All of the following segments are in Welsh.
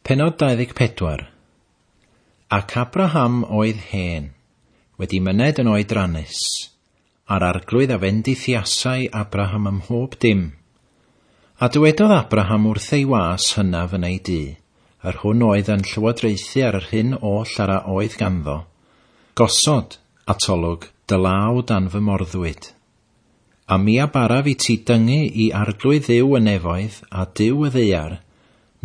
Pennod 24 Ac Abraham oedd hen, wedi myned yn oedrannus, a'r arglwydd a fendithiasai Abraham ym mhob dim. A dywedodd Abraham wrth ei was hynaf yn ei dŷ, yr hwn oedd yn llywodraethu ar yr hyn oll ar a oedd ganddo, Gosod, atolwg, dy law dan fy morddwyd, A mi a baraf i ti dyngu i arglwydd Dduw y nefoedd a Duw y ddaear,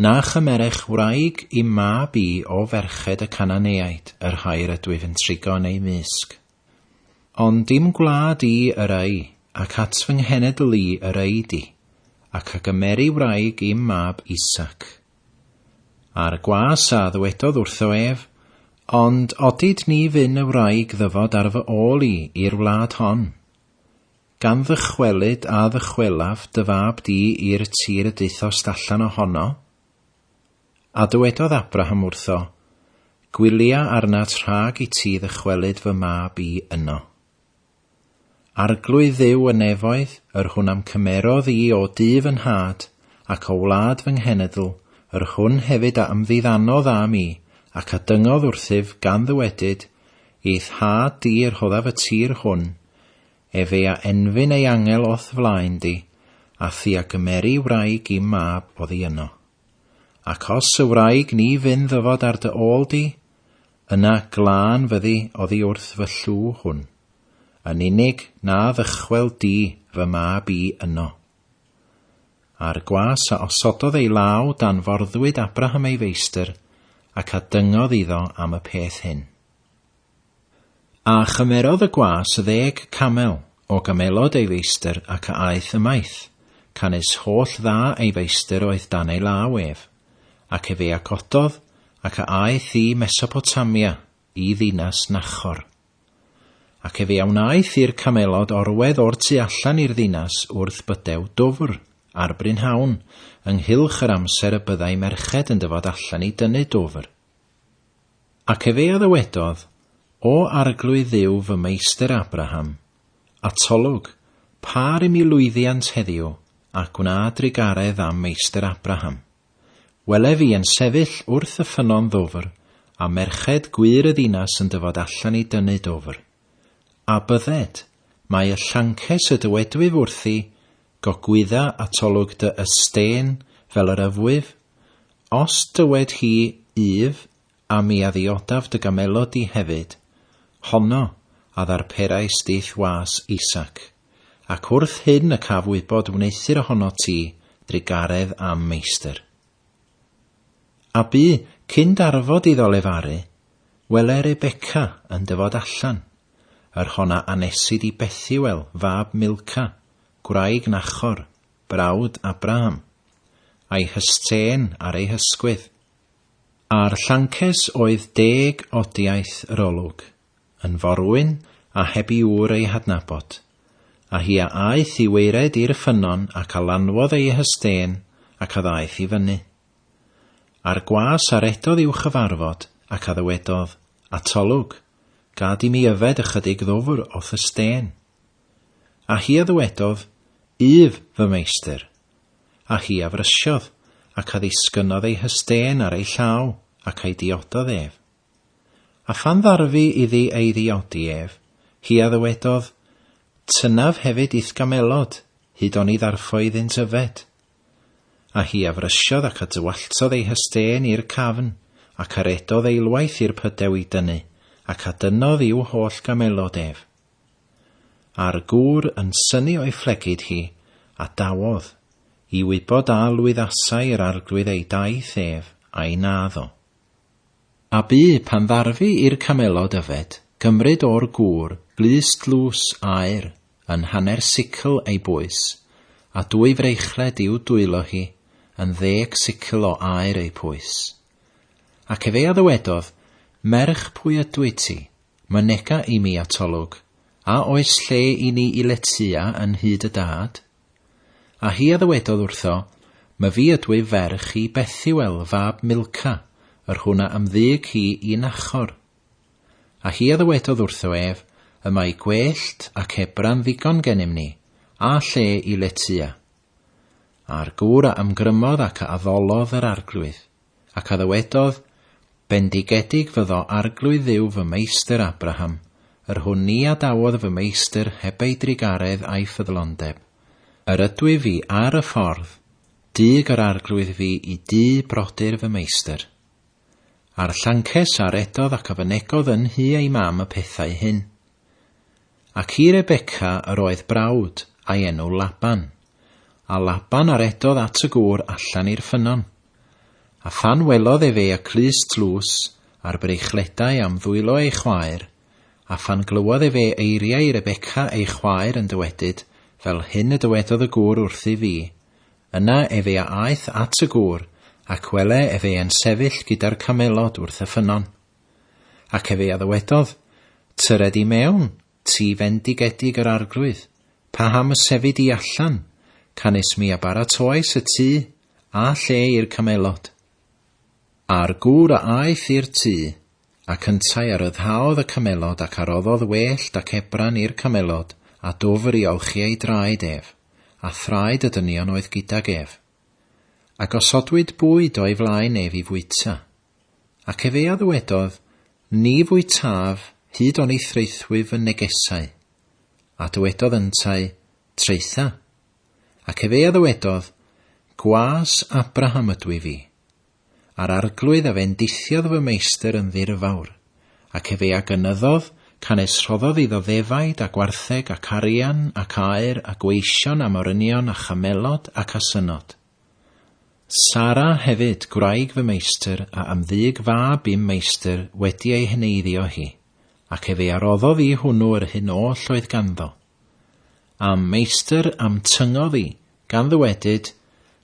na chymerech wraig i'm mab i o ferched y Cananeaid, yr rhai yr ydwyf yn trigo yn eu mysg. Ond dim gwlad i yr ŷi, ac at fy nghenedl i yr ŷi di, ac a gymeri wraig i'm mab Isac. Ar y gwas, a ddywedodd wrtho ef, Ond odid ni fyn y wraig ddyfod ar fy ôl i i'r wlad hon. Gan ddychwelyd a ddychwelaf dy fab di i'r tir y daethost allan o hono? A dywedodd Abraham wrtho, Gwylia arnat rhag i ti ddychwelyd fy mab i yno. Arglwydd Dduw y nefoedd, yr hwn a'm cymerodd i o du fy nhad, ac o wlad fy nghenedl, yr hwn hefyd a ymddiddanodd â mi, ac a dyngodd wrthyf, gan ddywedyd, I thad di y rhoddaf y tir hwn, ef ei a enfyn ei angel o'th flaen di, a thi a gymeri wraig i'm mab oddi yno. Ac os y wraig ni fyn ddyfod ar dy ôl di, Yna glân fyddi oddi wrth fy llw hwn, yn unig na ddychwel di fy mab i yno. A'r gwas a osododd ei law dan forddwyd Abraham ei feistr, ac a dyngodd iddo am y peth hyn. A chymerodd y gwas ddeg camel o gamelod ei feistr ac a aeth ymaith, canys holl dda ei feistr oedd dan ei law ef. Ac efe a gododd, ac a aeth i Mesopotamia, i ddinas Nachor. Ac efe a wnaeth i'r camelod orwedd o'r tu allan i'r ddinas wrth bydew dwfr, ar brynhawn, ynghylch yr amser y byddai merched yn dyfod allan i dynnu dwfr. Ac efe a ddywedodd, O Arglwydd Dduw fy meistr Abraham, Atolwg, Pâr i mi lwyddiant heddiw, a gwna drugaredd am Meistr Abraham. Welef i yn sefyll wrth y ffynnon ddwfr, a merched gwŷr y ddinas yn dyfod allan i dynnu dwfr. A bydded, mae y llances y dywedwyf wrthi, Gogwydda atolwg dy ystên fel yr yfwyf, os dywed hi, Yf, A mi a ddiodaf dy gamelod di hefyd, honno a ddarperai stith was Isaac, ac wrth hyn y caf wybod wneuthur ohono ti drugaredd am meistr. A bu, cyn darfod iddo lefaru, wele Rebeca yn dyfod allan, yr hon a anesid i Bethuel fab Milca, gwraig Nachor, brawd Abraham, a'i hystên ar ei hysgwydd. Ar Llances oedd deg odiaeth yr olwg, yn forwyn a heb i ŵr ei hadnabod, a hi a aeth i waered i'r ffynnon ac a lanwodd ei hystên ac a ddaeth i fyny. A'r gwas a redodd i'w chyfarfod ac a ddywedodd, Atolwg, gad i mi yfed ychydig ddwfr o'th ystên. A hi a ddywedodd, Yf, fy meistr, A hi a frysiodd, ac a ddisgynnodd ei hystên ar ei llaw, ac a'i diododd ef. A phan ddarfu iddi ei ddiodi ef, hi a ddywedodd, Tynnaf hefyd i'th gamelod, hyd oni ddarffo iddynt yfed. A hi a frysiodd ac a dywalltodd ei hystên i'r cafn, ac a redodd eilwaith i'r pydew i dynnu, ac a dynnodd i'w holl gamelod ef. A'r gŵr yn synnu o'i phlegid hi, a dawodd, i wybod a lwyddasai yr arglwydd ei daith ef, ai naddo. A bu, pan ddarfu i'r camelod yfed, gymryd o'r gŵr glust dlws aur, yn hanner sicl ei bwys, a dwy freichled i'w dwylo hi, yn ddeg sicl o aur ei pwys. Ac efe a ddywedodd, Merch pwy ydwyt ti? Mynega i mi atolwg, a oes lle i ni i letya yn hyd y dad? A hi a ddywedodd wrtho, My fi ydwyf ferch i Bethuel fab Milca, yr hwn a ymddyg hi i Nachor. A hi a ddywedodd wrtho ef, Y mae gwellt ac ebran ddigon genym ni, a lle i letya. A'r gŵr a ymgrymodd ac a addolodd yr Arglwydd, ac a ddywedodd, Bendigedig fyddo Arglwydd Dduw fy meistr Abraham, yr hwn ni a dawodd fy meistr heb ei drugaredd a'i ffyddlondeb. Yr ydwyf fi ar y ffordd, dug yr Arglwydd fi i dŷ brodyr fy meistr. A'r llances a redodd ac a fynegodd yn nhu ei mam y pethau hyn. Ac i Rebeca yr oedd brawd, a'i enw Laban. A Laban a redodd at y gŵr allan i'r ffynnon. A phan welodd ef ei aclus tlws, a'r breichledau am ddwylo ei chwaer, a phan glywodd ef ei eiriau i Rebeca ei chwaer yn dywedyd, Fel hyn y dywedodd y gŵr wrthyf fi, yna efe a aeth at y gŵr, ac wele efe yn sefyll gyda'r camelod wrth y ffynnon. Ac efe a ddywedodd, Tyred i mewn, ti fendigedig yr Arglwydd, paham y sefyd di allan, canys mi a baratoais y tŷ, a lle i'r camelod? A'r gŵr a aeth i'r tŷ, ac yntau a ryddhaodd y camelod ac a roddodd wellt ac ebran i'r camelod, a dwfr i olchi ei draed ef, a thraed y dynion oedd gydag ef. A gosodwyd bwyd o'i flaen ef i fwyta. Ac efe a ddywedodd, Ni fwytaf hyd oni thraethwy fy negesau. A dywedodd yntau, Traetha. Ac efe a ddywedodd, Gwas Abraham ydw i fi. A'r arglwydd a fendithiodd fy meistr yn ddirfawr, ac efe a gynyddodd, canys rhoddodd iddo ddefaid a gwartheg ac arian ac aur a gweision a morynion a chamelod ac asynod. Sara hefyd, gwraig fy meistr, a am ddug fab i'm meistr wedi ei heneiddio hi, ac efe a roddodd i hwnnw yr hyn oll oedd ganddo. A'm meistr a'm tyngodd i, gan ddywedyd,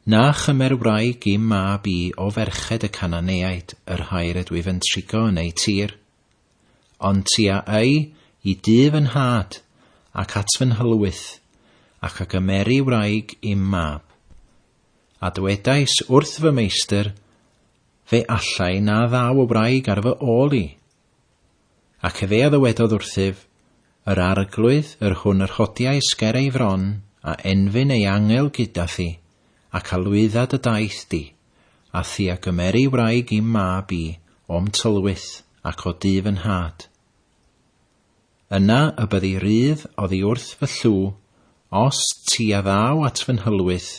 Na chymer wraig i'm mab i o ferched y Cananeaid, yr rhai rydwyf yn trigo yn eu tir. Ond ti a âi i dŷ fy nhad, ac at fy nhylwyth, ac a gymeri wraig i'm mab. A dywedais wrth fy meistr, Fe allai na ddaw y wraig ar fy ôl i. Ac efe a ddywedodd wrthyf, Yr arglwydd yr hwn yr hodiais ger ei fron, a enfyn ei angel gyda thi, ac a lwydda dy daith di. A thi a gymeri wraig i'm mab i o'm tylwyth ac o du fy nhad. Yna y byddi rydd oddi wrth fy llw, os ti a ddaw at fy nhylwyth,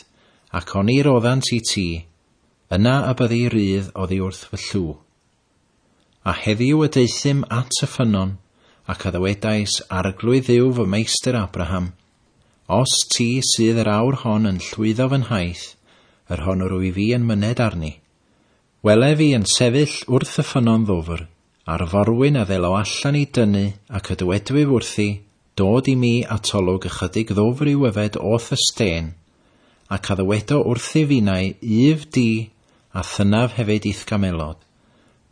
ac oni roddant i ti, yna y byddi rydd oddi wrth fy llw. A heddiw y deuthum at y ffynnon, ac a ddywedais, Arglwydd yw fy meistr Abraham, Os ti sydd yr awr hon yn llwyddo fy nhaith, yr hon wrw i fi yn myned arni. Welef i yn sefyll wrth y ffynnon ddwfr, a'r forwyn a ddelo allan i dynnu, ac a dywedwyf wrthi, Dod i mi atolwg ychydig ddwfr i'w yfed o thysten, ac a ddywedo wrthyf innau, Uff di, a thynnaf hefyd i'thgamelod,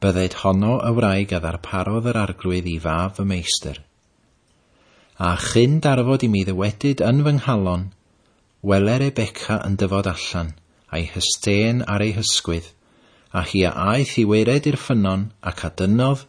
bydded honno y wraig a ddarparodd yr arglwydd i fab fy meistr. A chyn darfod i mi ddywedyd yn fy nghalon, Wele Rebecca yn dyfod allan, a'i hysten ar ei hysgwydd, a hi a aeth i waered i'r ffynnon, ac a dynnodd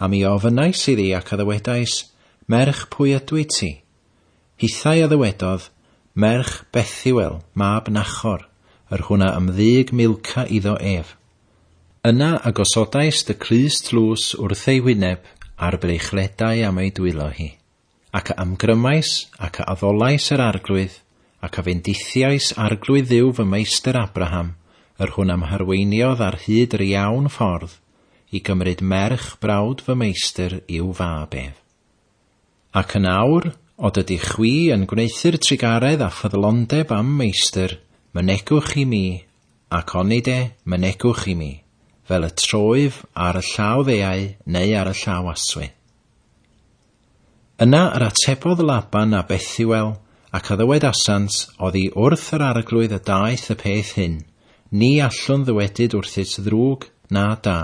A mi ofynnais iddi ac a ddywedais, Merch, pwy ydwyt ti? Hithau a ddywedodd, Merch Bethuel, mab Nachor, yr hwn a ymddug Milca iddo ef. Yna a gosodais dy crys tlws wrth ei wyneb, a'r breichledai am ei dwylo hi. Ac a ymgrymais, ac a addolais yr Arglwydd, ac a fendithiais Arglwydd Dduw fy meistr Abraham, yr hwn a m'harweiniodd ar hyd yr iawn ffordd, i gymryd merch brawd fy meistr i'w fab ef. Ac yn awr, od ydych chwi yn gwneuthur trugaredd a ffyddlondeb a'm meistr, mynegwch i mi, ac onid e, mynegwch i mi, fel y troif ar y llaw ddeau neu ar y llaw aswy. Yna yr atebodd Laban a Bethuel, ac a ddywedasant, Oddi wrth yr Arglwydd y daeth y peth hyn, ni allwn ddywedyd wrthyt ddrwg, na da.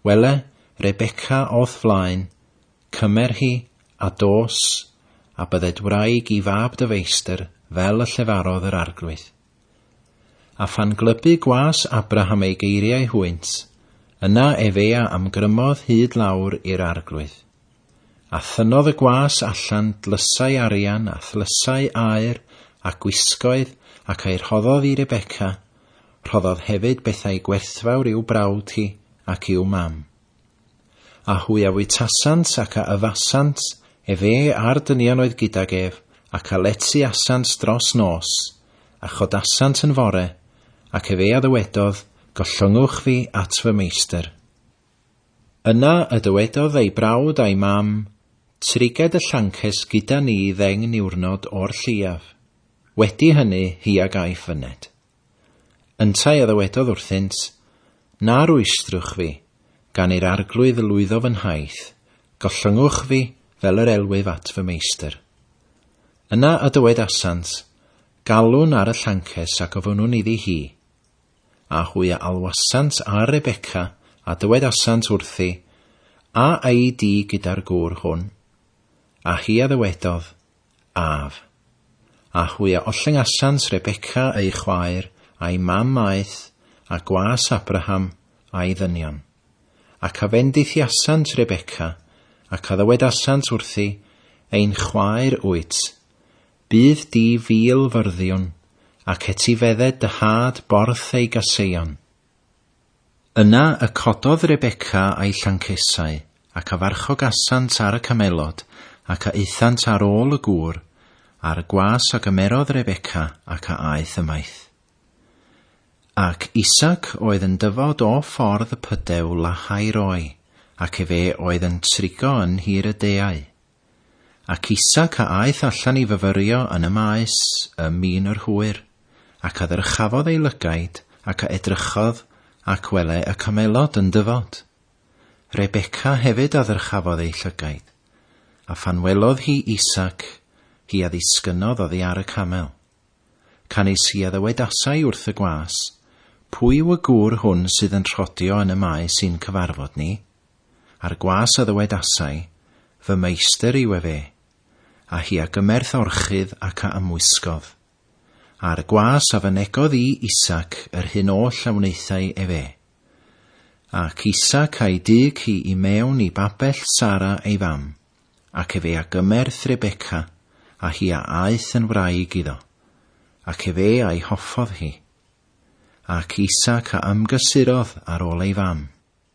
Wele, Rebeca o'th flaen, cymer hi, a dos, a bydded wraig i fab dy feistr, fel y llefarodd yr Arglwydd. A phan glybu gwas Abraham ei geiriau hwynt, yna efe a ymgrymodd hyd lawr i'r arglwydd. A thynodd y gwas allan dlysau arian a thlysau aur a gwisgoedd ac a'i rhoddodd i Rebeca, rhoddodd hefyd bethau gwerthfawr i'w brawd hi ac i'w mam. A hwy a fwytasant ac a yfasant ef e a'r dynion oedd gydag ef, ac a lety asant dros nos, a chodasant yn fore, ac ef e a ddywedodd, Gollongwch fi at fy meistr. Yna y dywedodd ei brawd a'i mam, Triged y llances gyda ni ddeng niwrnod o'r lleiaf. Wedi hynny hi a gaiff fyned. Yntau a ddywedodd wrthynt, Na rwystrwch fi, gan i'r Arglwydd lwyddo fy nhaith, gollyngwch fi fel yr elwyf at fy meistr. Yna a dywedasant, Galwn ar y llances a gofynnwn iddi hi. A hwy a alwasant ar Rebeca, a dywedasant wrthi, A a'i di gyda'r gŵr hwn? A hi a ddywedodd, Af. A hwy a ollengasant Rebecca ei chwaer, a'i mam aeth, a gwas Abraham, a'i ddynion. Ac a fendithiasant Rebecca, ac a ddywedasant wrthi, Ein chwaer wyt, bydd di fil fyrddïwn, ac etifedde dy had borth ei gaseion. Yna y cododd Rebecca a'i llancesau, ac a farchogasant ar y camelod, ac a aethant ar ôl y gŵr, ar y gwas a gymerodd Rebecca, ac a aeth ymaith. Ac Isaac oedd yn dyfod o ffordd y pydew Lahai-roi, ac efe oedd yn trigo yn nhir y deau. Ac Isaac a aeth allan i fyfyrio yn y maes ym min yr hwyr, ac a ddyrchafodd ei lygaid, ac a edrychodd, ac wele y camelod yn dyfod. Rebeca hefyd a ddyrchafodd ei llygaid, a phan welodd hi Isaac, hi a ddisgynnodd oddi ar y camel. Canys hi a ddywedasai wrth y gwas, Pwy yw y gŵr hwn sydd yn rhodio yn y maes i'n cyfarfod ni? A'r gwas a ddywedasai, Fy Meistr yw efe. A hi a gymerth orchudd ac a ymwisgodd. A'r gwas a fynegodd i Isaac yr hyn oll a wnaethai efe. Ac Isaac a'i dyg hi i mewn i babell Sara ei fam, ac efe a gymerth Rebecca, a hi a aeth yn wraig iddo. Ac efe a'i hoffodd hi. Ac Isaac a ymgysurodd ar ol ei fam.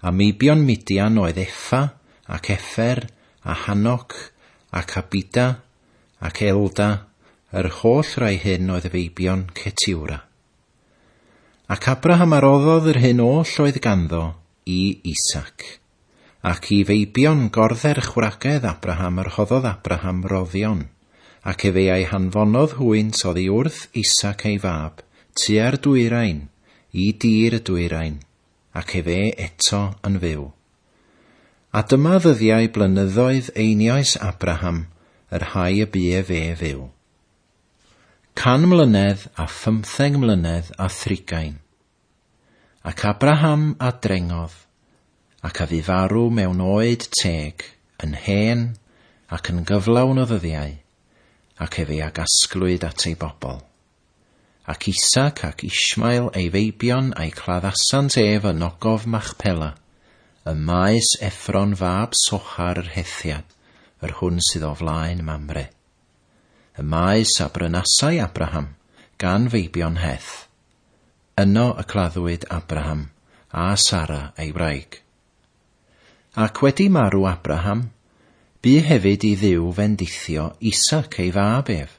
A meibion Midian oedd Efa, ac Efer, a Hanoc, ac Abida, ac Elda, yr holl rai hyn oedd y feibion Cetiwra. Ac Abraham a roddodd yr hyn oll oedd ganddo i Isaac. Ac i feibion gordderch wragedd Abraham yr hoddodd Abraham roddion, ac efe a'i hanfonodd hwynt oddi wrth Isaac ei fab, tua'r dwyrain, i dir y dwyrain, ac ef e eto yn fyw. A dyma ddyddiau blynyddoedd einioes Abraham yr rhai y bu ef e fyw. Can mlynedd a phymtheng mlynedd a thrigain. Ac Abraham a drengodd, ac a fu farw mewn oed teg, yn hen, ac yn gyflawn o ddyddiau, ac ef e a gasglwyd at ei bobl. Ac Isaac ac Ishmael ei feibion a'i claddasant ef yn ogof Machpela, ym maes Effron fab Sochar yr Hethiad, yr hwn sydd o flaen Mamre. Y maes a brynasai Abraham gan feibion Heth. Yno y claddwyd Abraham a Sara ei wraig. Ac wedi marw Abraham, bu hefyd i Dduw fendithio Isaac ei fab ef,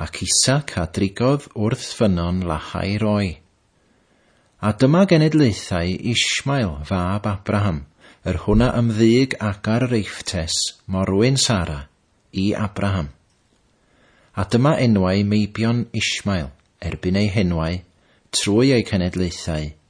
ac Isaac a drigodd wrth ffynnon Lahai-roi. A dyma genedlaethau Ishmael, fab Abraham, yr hwn a ymddyg Agar yr Eifftes, morwyn Sara, i Abraham. A dyma enwau meibion Ishmael, erbyn eu henwau, trwy eu cenedlaethau,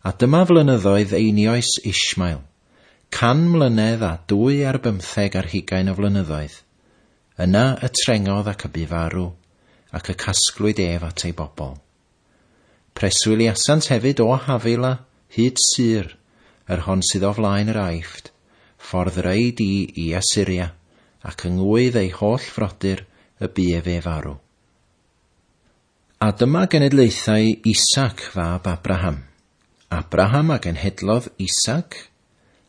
A dyma flynyddoedd einioes Ishmael, can mlynedd a dwy ar bymtheg ar hugain o flynyddoedd. Yna y trengodd ac y bu farw, ac y casglwyd ef at ei bobl. Preswyliasant hefyd o Havila hyd Sur, yr hon sydd o flaen yr Aifft, ffordd yr ei di i Asyria, ac yngwydd ei holl frodyr y bu ef ef arw. A dyma genedlaethau Isaac fab Abraham. Abraham a genhedlodd Isaac,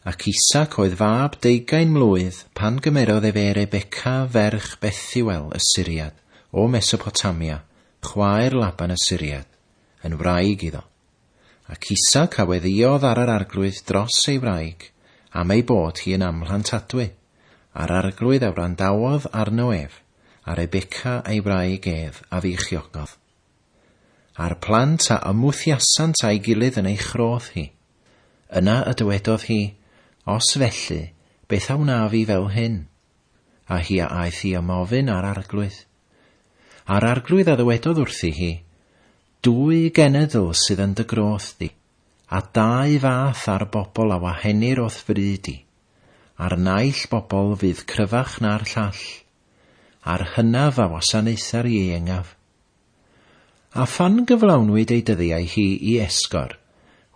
ac Isaac oedd fab deugain mlwydd pan gymerodd efe Rebeca ferch Bethuel y Syriad o Mesopotamia, chwaer Laban y Syriad, yn wraig iddo. ac isog a weddïodd ar yr Arglwydd dros ei wraig, am ei bod hi yn amhlantadwy, a'r Arglwydd a wrandawodd arno ef, a Rebeca ei wraig ef a feichiogodd. A'r plant a ymwthiasant â'i gilydd yn ei chrodd hi. Yna y dywedodd hi, Os felly, beth a wnaf i fel hyn? A hi a aeth i ymofyn â'r Arglwydd. A'r Arglwydd a ddywedodd wrthi hi, Dwy genedl sydd yn dy groth di, a dau fath ar bobl a wahenir o'th fri di. A'r naill bobl fydd cryfach na'r llall, a'r hynaf a wasanaethar ieuengaf. A phan gyflawnwyd ei dyddiau hi i esgor,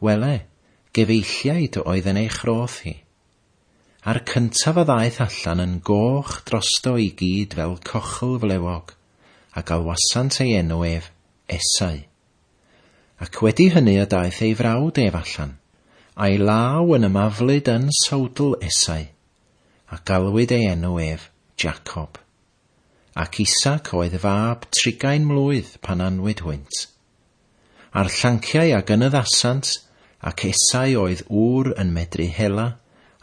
wele, gefeilliaid oedd yn ei chroth hi. A'r cyntaf a ddaeth allan yn goch drosto i gyd fel cochll flewog, a galwasant ei enw ef, Esau. Ac wedi hynny y daeth ei frawd ef allan, a'i law yn ymaflyd yn sowdl Esau, a galwyd ei enw ef, Jacob. Ac Isac oedd fab trigain mlwydd pan anwyd hwynt. A'r llanciau a gynyddasant, ac esau oedd ŵr yn medru hela,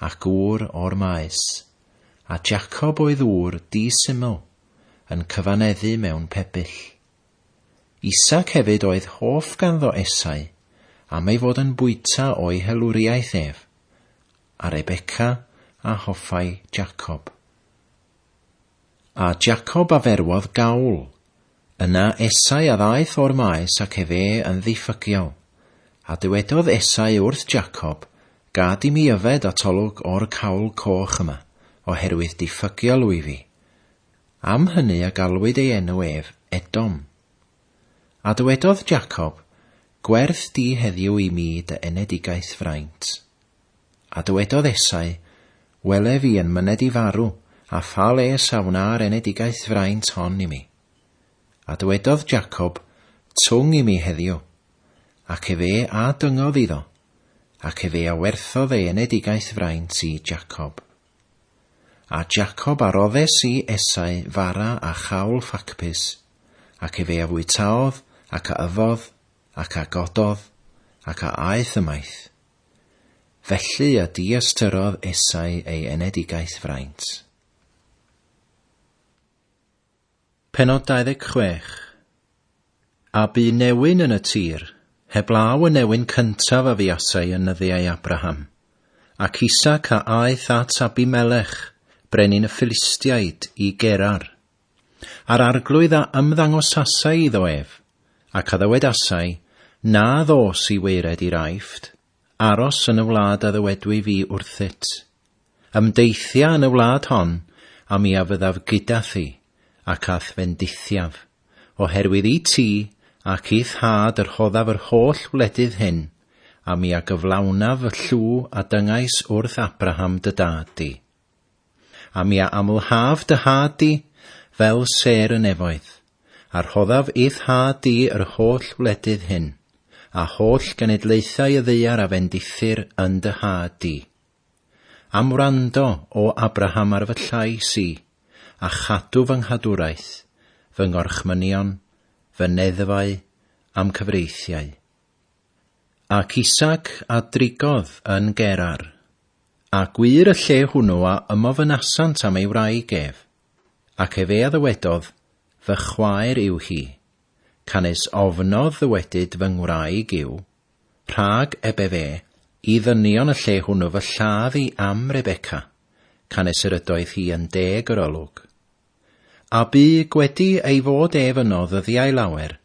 ac ŵr o'r maes. A Jacob oedd ŵr di-syml, yn cyfaneddu mewn pebyll. Isaac hefyd oedd hoff ganddo Esau, am ei fod yn bwyta o'i helwriaeth ef, a Rebecca a hoffai Jacob. A Jacob a ferwodd gawl. Yna Esau a ddaeth o'r maes ac efe yn ddiffygiol. A dywedodd Esau wrth Jacob, Gad i mi yfed atolwg o'r cawl coch yma, oherwydd diffygiol wyf fi. Am hynny a galwyd ei enw ef Edom. A dywedodd Jacob, Gwerth di heddiw i mi dy enedigaeth fraint. A dywedodd Esau, Wele fi yn myned i farw, a pha les a wna'r enedigaeth fraint hon i mi? A dywedodd Jacob, Twng i mi heddiw. Ac efe a dyngodd iddo, ac efe a werthodd ei enedigaeth fraint i Jacob. A Jacob a roddes i Esau fara a chawl ffacbys, ac efe a fwytaodd, ac a yfodd, ac a gododd, ac a aeth ymaith. Felly a diystyrrodd Esau ei enedigaeth fraint. Pennod 26 A bu newyn yn y tir, heblaw y newyn cyntaf a fuasai yn nyddiau Abraham. Ac Isaac a aeth at Abimelech, brenin y Philistiaid, i Gerar. A'r Arglwydd a ymddangosasai iddo ef, ac a ddywedasai, Na ddos i waered i'r Aifft, aros yn y wlad a ddywedwy fi wrthyt. Ymdeithia yn y wlad hon, a mi a fyddaf gyda thi, ac a'th fendithiaf, oherwydd i ti ac i'th had y rhoddaf yr holl wledydd hyn, a mi a gyflawnaf fy llw a dyngais wrth Abraham dy dad di. A mi a amlhaf dy had di, fel sêr y nefoedd, a rhoddaf i'th had di yr holl wledydd hyn, a holl genedlaethau y ddaear a fendithir yn dy had di. Am wrando, O Abraham, ar fy llais i, a chadw fy nghadwraeth, fy ngorchmynion, fy neddfau, a'm cyfreithiau. Ac Isaac a drigodd yn Gerar. A gwŷr y lle hwnw a ymofynasant am ei wraig ef, ac ef ea ddywedodd, Fy chwaer yw hi. Canys ofnodd ddywedyd fy ngwraig yw, Rhag eb ef e, i ddynion y lle hwnw fy lladd i am Rebeca, canys yr ydoedd hi yn deg yr olwg. A bu gwedi ei fod ef yno ddyddiau lawer,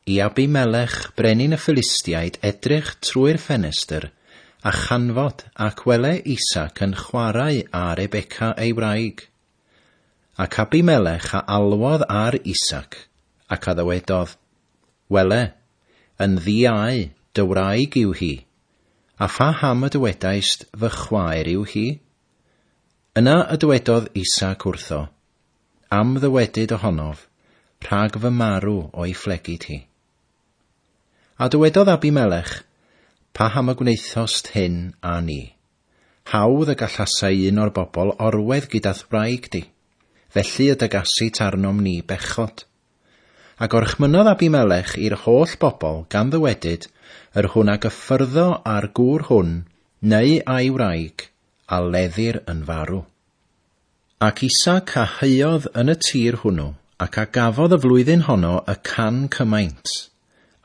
I Abimelech, brenin y Philistiaid, edrych trwy'r ffenestr, a chanfod, ac wele Isaac yn chwarae â Rebeca ei wraig. Ac Abimelech a alwodd ar Isaac, ac a ddywedodd, Wele, yn ddi-au, dy wraig yw hi, a pha ham y dywedaist, Fy chwaer yw hi? Yna y dywedodd Isaac wrtho, Am ddywedyd ohonof, Rhag fy marw o'i phlegid hi. A dywedodd Abimelech, Paham y gwnaethost hyn â ni? Hawdd y gallasai un o'r bobl orwedd gyda'th wraig di, felly y dygasit arnom ni bechod. A gorchmynnodd Abimelech i'r holl bobl gan ddywedyd, Yr hwn a gyffyrddo â'r gŵr hwn, neu a'i wraig, a leddir yn farw. Ac Isaac a huodd yn y tir hwnnw, ac a gafodd y flwyddyn honno y can cymaint,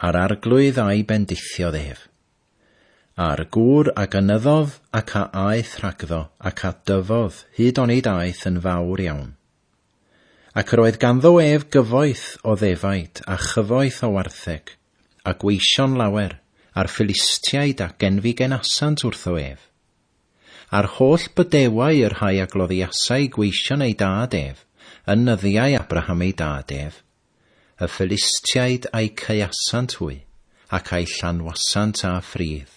a'r arglwydd a'i bendithiodd ef. A'r gŵr a gynyddodd ac a aeth rhagddo ac a dyfodd hyd onid aeth yn fawr iawn. Ac yr oedd ganddo ef gyfoeth o ddefaid a chyfoeth o wartheg, a gweision lawer, a'r Philistiaid a genfigenasant wrtho ef, A'r holl bydewau y rhai a gloddiasai gweision ei dad ef, yn nyddiau Abraham ei dad ef, y Philistiaid a'i caeasant hwy, ac a'i llanwasant â ffridd.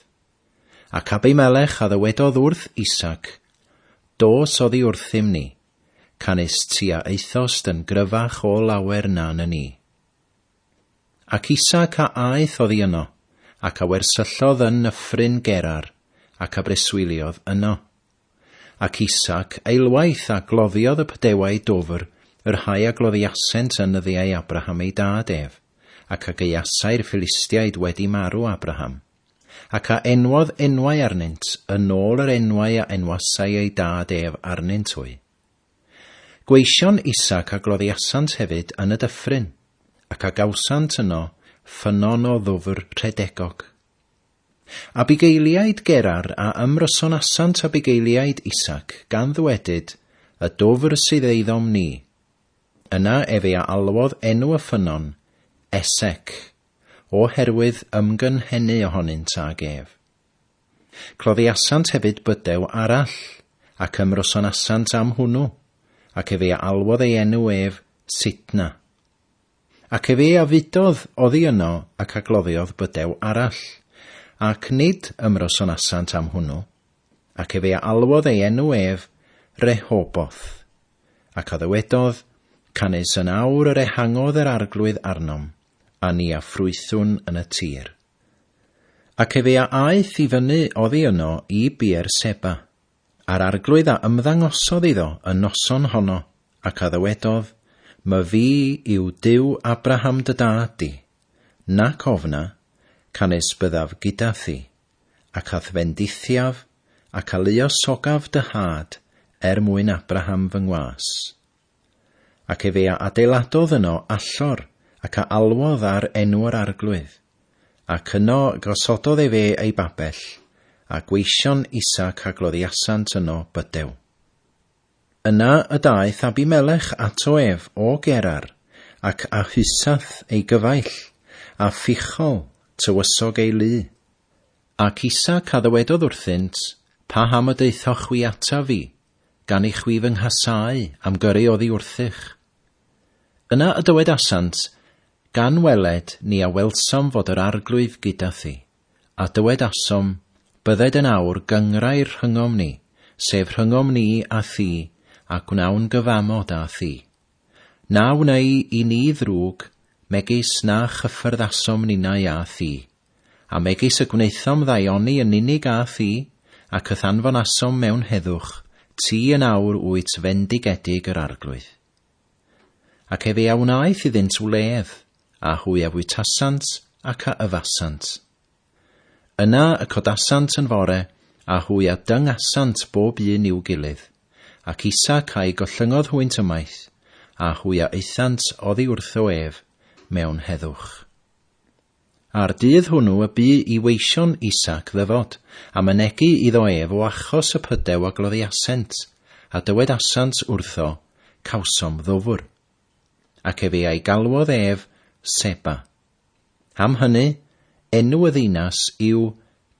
Ac Abimelech a ddywedodd wrth Isaac, Dos oddi wrthym ni, canys ti a aethost yn gryfach o lawer na na ni. Ac Isaac a aeth oddi yno, ac a wersyllodd yn nyffryn Gerar, ac a breswyliodd yno. Ac Isaac eilwaith a gloddiodd y pydewau dwfr, y rhai a gloddiasent yn nyddiau Abraham ei dad ef, ac a gaeasai'r Philistiaid wedi marw Abraham. Ac a enwodd enwau arnynt yn ôl yr enwau a enwasai ei dad ef arnynt hwy. Gweision Isaac a gloddiasant hefyd yn y dyffryn, ac a gawsant yno ffynnon o ddwfr rhedegog. A bugeiliaid Gerar a ymrysonasant a bugeiliaid Isaac, gan ddwedyd, Y dwfr sydd eiddom ni. Yna efe a alwodd enw y ffynnon, Esec, o herwydd ymgynhennu ohonynt ag ef. Cloddiasant hefyd bydew arall, ac ymrosonasant am hwnnw, ac efe a alwodd ei enw ef Sitna. Ac efe a fudodd oddi yno ac a gloddiodd bydew arall, ac nid ymrosonasant am hwnnw, ac efe a alwodd ei enw ef Rehoboth. Ac a ddywedodd, Canys yn awr yr ehangodd yr arglwydd arnom, a ni a ffrwythwn yn y tir. Ac efe a aeth i fyny oddi yno i Beer-seba, a'r arglwydd a ymddangosodd iddo y noson honno, ac a ddywedodd, My Fi yw Duw Abraham dy dad di, nac ofna, canys byddaf gyda thi, ac a'th fendithiaf, ac a luosogaf dy had, er mwyn Abraham fy ngwas. Ac efe a adeiladodd yno allor, ac a alwodd ar enw yr Arglwydd, ac yno gosododd efe ei babell, a gweision Isaac a gloddiasant yno bydew. Yna y daeth Abimelech ato ef o Gerar, ac a Husath ei gyfaill, a Phichol, tywysog ei lu. Ac Isaac a ddywedodd wrthynt, Pa ham y deuthoch chwi ataf fi, gan i chwi fy nghasau am gyrru oddi wrthych. Yna y dywedasant, Gan weled ni a welsom fod yr Arglwydd gyda thi, a dywedasom, Bydded yn awr gynghrair rhyngom ni, sef rhyngom ni a thi, a gwnawn gyfamod â thi. Na wnei i ni ddrwg, megis na chyffyrddasom ninnau â thi. A megis y gwnaethom ddaioni yn unig â thi, ac y'th anfonasom mewn heddwch, ti yn awr wyt fendigedig yr Arglwydd. Ac efe a wnaeth iddynt wledd, a hwy a fwytasant, ac a yfasant. Yna y codasant yn fore, a hwy a dyngasant bob un i'w gilydd, ac Isaac a'i gollyngodd hwynt ymaith, a hwy a aethant oddi wrtho ef mewn heddwch. A'r dydd hwnw y bu i weision Isaac ddyfod, a mynegi iddo ef o achos y pydew a gloddiasent, a dywedasant wrtho, Cawsom ddwfr. Ac efe a'i galwodd ef Seba. Am hynny, enw y ddinas yw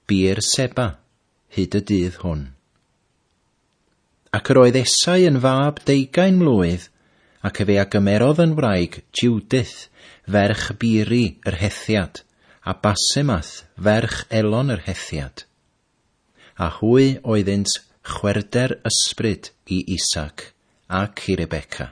Beer-seba, hyd y dydd hwn. Ac yr oedd Esau yn fab deugain mlwydd, ac efe a gymerodd yn wraig Jiwdyth, ferch Biri yr Hethiad, a Basemath, ferch Elon yr Hethiad. A hwy oeddynt chwerwder ysbryd i Isaac ac i Rebecca.